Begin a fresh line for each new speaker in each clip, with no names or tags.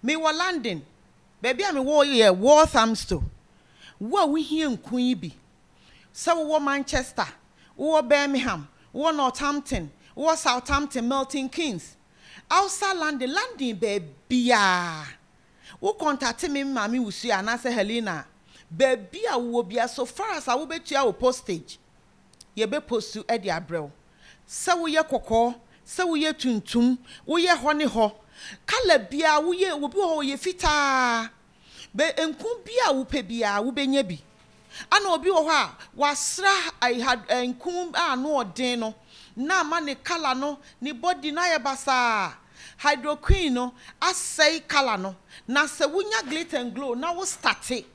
Mewɔ London. Baabi a mewɔ yɛ Walthamstow. Wo a wuhia nkuran yi bi, sɛ wowɔ Manchester, wowɔ Birmingham, wowɔ Northampton, wowɔ Southampton, Milton Keynes, outside London, London baabiara, wo kɔntate me, me maame Ursula anaasɛ Helena a, baabi a wowɔ biara, so far as a wobetua wo postage. yɛbɛpostu de abrɛ wo. Sɛ woyɛ kɔkɔɔ, sɛ woyɛ tuntum, woyɛ hɔ ne hɔ, colour biara woyɛ, obi wɔ hɔ ɔyɛ fitaa, bɛ nku biara a wopɛ biara wobɛnya bi. Ɛna obi wɔ hɔ a wɔasra ɛyi ha ɛ nku a ano yɛ den no na ama ne colour no, ne body no ayɛ basaa. Hydroquin no asɛe colour no. Na sɛ wonya Glit and Glow na wo starte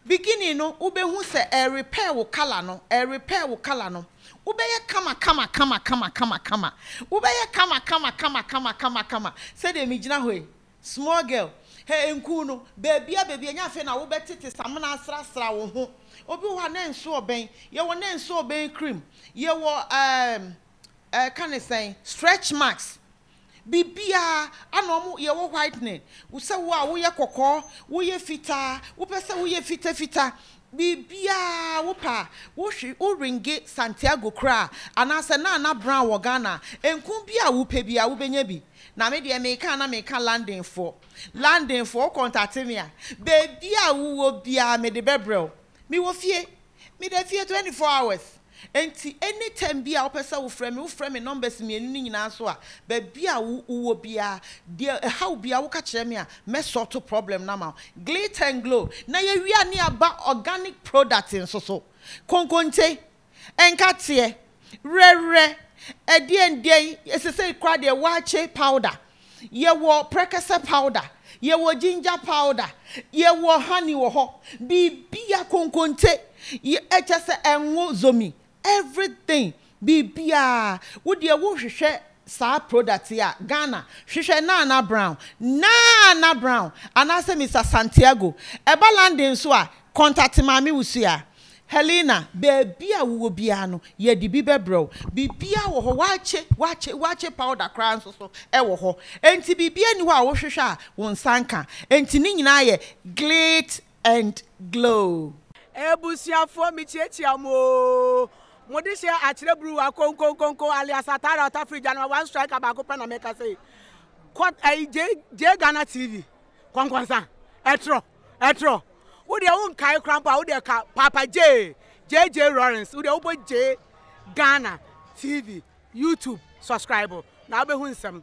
Beginning no wobɛhu sɛ ɛrerepair wo colour no, ɛrerepair wo colour no. Wobɛyɛ kama kama kama kama kama kama. Wobɛyɛ kama kama kama kama kama kama. Sɛdeɛ megyina hɔ yi, small girl, hɛ nkuu no, baabiara baabiara, ɛnyɛ afei na wobɛtete samena asrasra wo ho. Obi wɔ hɔ a, na nso ɔbɛn. Yɛwɔ na nso ɔbɛn cream. Yɛwɔ ɛɛm ɛka ne sɛn? Stretch marks, biribiara a na wɔn yɛwɔ whitening, sɛ wo a woyɛ kɔkɔɔ, woyɛ fitaa, wopɛ sɛ woyɛ fitafita, biribiara wopɛ a, wohwe wo ringe Santiago koraa anaasɛ Nana Brown wɔ Ghana a, nku bi a wopɛ biara wobɛnya bi. Na me deɛ meka a na meka Londonfoɔ, Londonfoɔ wo contate me a, baabi a wowɔ biara mede bɛbrɛ wo. Mewɔ fie. Meda fie twenty four hours. Enti any time bi a wopɛ sɛ wo frɛ me, wo frɛ me numbers mmienu no nyinaa so a, baabi a wo wɔ biara, deɛ ɛhaw wo biara, wo ka kyerɛ me a, mɛ sort problem no ama wo. Glitter and Glow. Na yɛwia ne aba organic product nso so. Konkonte, Nkateɛ, werɛwerɛ, ɛdeɛndeɛn, sesei koraa deɛ waakye powder, yɛwɔ prɛkɛsɛ powder, yɛwɔ ginger powder, yɛwɔ honey wɔ hɔ, biribia konkonte, kyɛsɛ ngo zomi, everything, biribiaa, wodeɛ wohwehwɛ saa product yi a Ghana hwehwɛ Nana Brown, Naana Brown anaasɛ Mister Santiago. Ɛba London nso a, contact Maame Wusua. Helena, baabi a wowɔ biara no, yɛde bi bɛbrɛ wo. Biribiara wɔ hɔ, wɔakye, wɔakye, wɔakye powder koraa nso so wɔ hɔ. Enti biribiara nni hɔ a wohwehwɛ a wo nsa nka. Enti ne nyinaa yɛ Glit and glow. Abusuafoɔ
mekyiakyia mo oo. Mo de hyɛ akyerɛ bruwa konkonkonko alias atara ɔta firi gya no ma one striker baako pɛ na meka sei. Kɔ ɛyi J J Ghana TV kɔnkɔnsa ɛtrɔ ɛtrɔ wo deɛ wo nkae kora mpo a wo deɛ ka Papa J JJ Lawrence wo deɛ wobɔ J Ghana TV YouTube subscribe na wobɛhu nsɛm.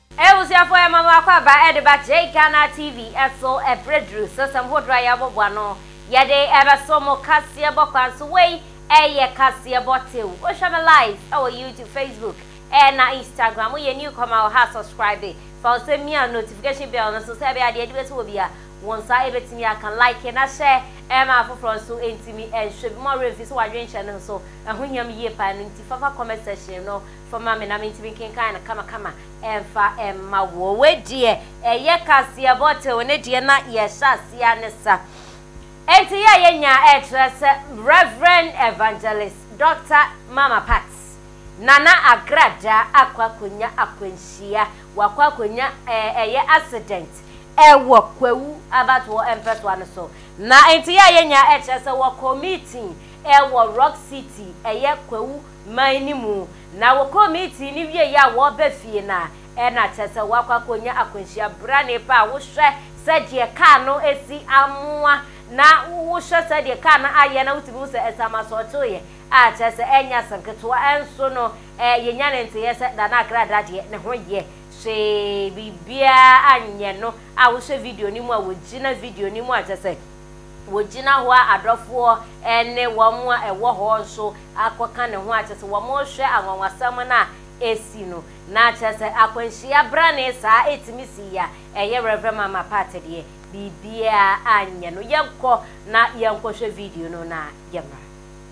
Abusuafo ɛma mo akwaaba ɛde ba JGhana TV ɛso ɛberɛ duru sɛ sɛm hodoɔ a yɛbɔbɔ ano yɛde ɛbɛso mo kaseɛbɔ kwan so wei ɛyɛ kaseɛbɔ tew wohwɛ me live ɛwɔ YouTube Facebook ɛna Instagram woyɛ new comer wɔ ha subscribe fa wo sɛ mia notification bell no so sɛ ɛbɛyɛ a deɛ ɛde bɛsi wɔ bia wo nsa ɛbɛtumi aka like na hyɛ ɛma afoforɔ nso ɛntumi ɛnhwɛ bi mo werɛ mfi sɛ wadwenkyɛ no nso ɛho hia me yie paa ɛno nti fafa comment section no fo ma me na mentumi nkenkan no kamakama mfa mma woɔ. Wei deɛ ɛyɛ kaseɛbɔ tew ne deɛ na yɛhyɛ aseɛ ne sa. Enti yɛ a yɛnya ɛkyerɛ sɛ Rev. Evangelist Dɔkta Mama Pat, Nana Agradaa akɔ akɔnya akwanhyia, wakɔ akɔnya ɛyɛ accident ɛwɔ Kwawu abatoɔ mpɛtoa no so. Na enti yɛ a yɛnya ɛkyerɛ sɛ wɔkɔ meeting ɛwɔ Rock City ɛyɛ Kwawu man no mu, na wɔkɔɔ meeting no wieeɛ a wɔreba fie no a, ɛna kyerɛ sɛ wɔakɔ akɔnya akwanhyia brane pa a wohwɛ sɛdeɛ kaa no si amoa na wohwɛ sɛdeɛ kaa no ayɛ na wotumi hu sɛ ɛsɛ ama sɔɔkyeeɛ a, kyerɛ sɛ ɛnyɛ asɛm ketewa. Ɛnso no, eh, yɛnya ne nteeɛ sɛ Nana Akrada deɛ ne ho yɛ hwee, biribiara anyɛ no a wohwɛ video no mu a, wɔgyina video no mu a, kyerɛ sɛ wɔgyina hɔ a adɔfoɔ ne wɔn a ɛwɔ hɔ nso akɔka ne ho a kyerɛ sɛ wɔrehwɛ anwanwasɛm no a ɛsi no. Na kyerɛ sɛ akwanhyia brane saa ɛtumi sii a, ɛyɛ Rev. Mama Pat deɛ biribiara anyɛ no. Yɛnkɔ na yɛnkɔhwɛ video no na yɛmmra.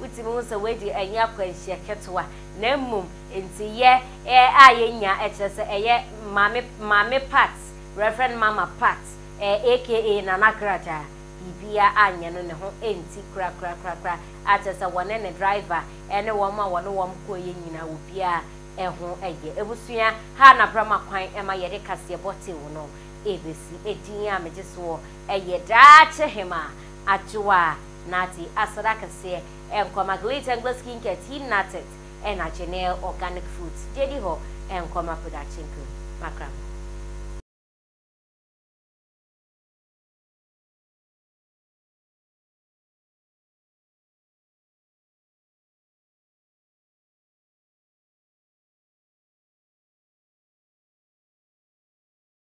Wotumi hu sɛ wei deɛ ɛnyɛ akwanhyia ketewa, na mmom nti yɛ a yɛnya kyerɛ sɛ ɛyɛ Maame Maame Pat, Rev. Mama Pat, aka Nana Gradaa, biribiara anyɛ no ne ho nti korakorakorakora, a kyerɛ sɛ wɔne ne driver ne wɔn a wɔne wɔn kɔeɛ nyinaa obiara ho yɛ. Abusua ha na bra ma kwan ma yɛde kaseɛbɔ tew no bɛsi. Din a megye soɔ yɛ Daakye Hemaa Adwoa. Nate aseda kɛseɛ ɛnkɔ ma Glitz and Glitz Skincare, Team Natet ɛna Jenelle Organic Foods, gyedi hɔ ɛnkɔ ma Production Crew, makra mo.